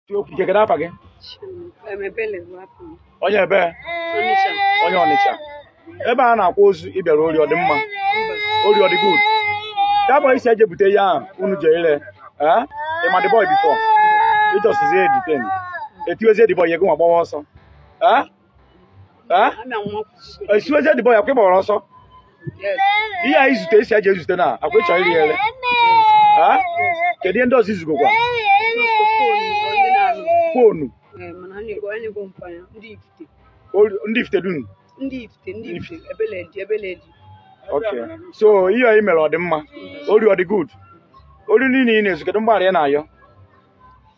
Chike, kedu afa gị? Onye ebe? Onye Ọnịcha. Ebe a na-akwa ozu ị bịara ori ọ dị mma? Ori ọ dị good? That boy isi eje bute ya ahụ unu je ire. Eh? Ị ma the boy before? Ị just zie detain. Etiwezie the boy ihe gị nwa gbawa ọsọ. Eh? Ah? Ana nwa kwusi. etiwezie the boy ọkwa ị gbawara ọsọ Yes. ihe a izute isi eje ezute na ọkwa ịchọ ire ere Ah? kedu ihe ndị ọzọ izugokwa Onye na-anụ. foonu Eh, mana anyị go- anyị go mpanya. Ndị ifite. olu- ndị Ifitedunu Ndị ifite. Ndị ifite. Ebele dị. Ebele dị. okay so ihe a i mere ọ dị mma ori ọ dị good ori niile ị na-ezu kedu mgbaghara ị na-ayọ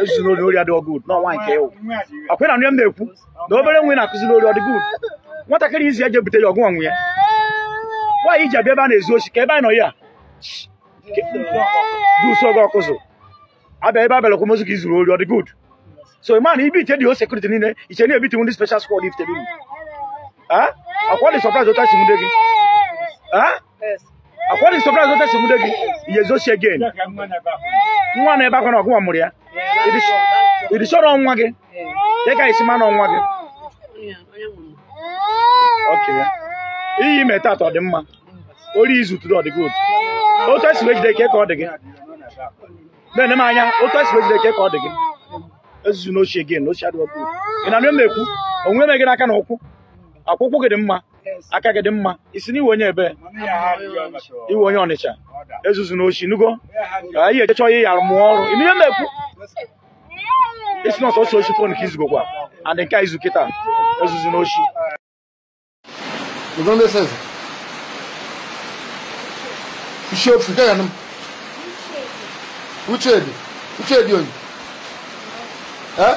ezuzina ori ori adịghị good na ọ nwoke ị wụ ọkwa ị na-anụ ihe m na-ekwu na obere nwa ị na-akụzi n'ori ọ dị good nwatakịrị izi je bute ya ọgụ ọnwụ ya nwaanyị ji abịa ebe a na-ezu oshi ka ebe anyị nọ ya dusu oge ọkụzụ abịa ebe a bịara ịkwa ozu ka i zuru ori ọ dị good so ị ma na Ifitedunu security niile iche na-ebiti ndị special squad Ifitedunu ọkwa ọ dị surprise otu esi nwude gị Ah? Ọkwa ọ dị surprise otu esi nwude gị, i je ezu oshi again. Nwa na-ebe akwa na ọ gị nwa mụrụ ya. Ị dị sure ọ nwa gị. Kedu ka isi ma na ọ nwa gị. Okay. Ihe i me tata ọ dị mma. Ori izu tụrụ ọ dị good. Otu esi wee jide ka ọ dị gị. Na-ene m anya, otu esi wee jide ka ọ dị gị. Ezuzina oshi again, n'oshi adịghị good. Ị na-anụ m na-ekwu, onwe ihe me gị n'aka na ụkwụ. Ọkwa ụkwụ gị dị mma. aka gị dị mma isi na ị wụ onye ebe ị wụ onye Ọnịcha ezuzina oshi ị nụgo ka ị je chọọ ihe ya mụọ ọrụ ị nụ ihe m na-ekwu isi na ọ sọsọ oshi fon ka izugokwa and nke a izu kịta ezuzina oshi You don't listen. You should forget him. Uche dị. Uche dị onye. Eh?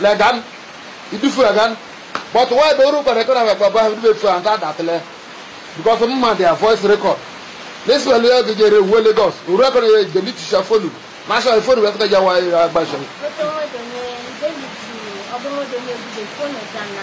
legan idufu legan but why be oru kpere kpere wekwa ba ibe fu anta datle because mma their voice record this well ya ge jere wo lagos oru akọ ye de mi tisha fonu ma sha fonu wekwa ja wa ya gba sha Otu nwoke onye David ọbụrụ onye ebube fonu ga na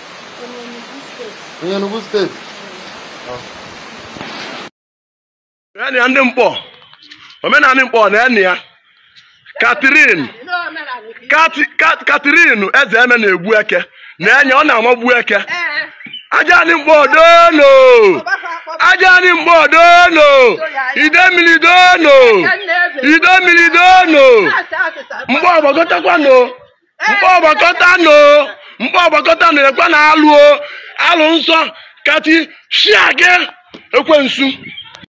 onye Enugu steeti naanị ya ndị Nkpọ omenanị Nkpọ na enyi ya Catherine Catherine Eze eme na-egbu eke na enye ọ na-amagbu eke aja anị Nkpọ dono aja anị Nkpọ dono Idemili dono Idemili dono Nkpọ gbakọtakwanụ Nkpọ gbakọta nụ Nkpọ gbakọta nụ ekwe na alụ o, alụ nsọ kati shia gị ekwensu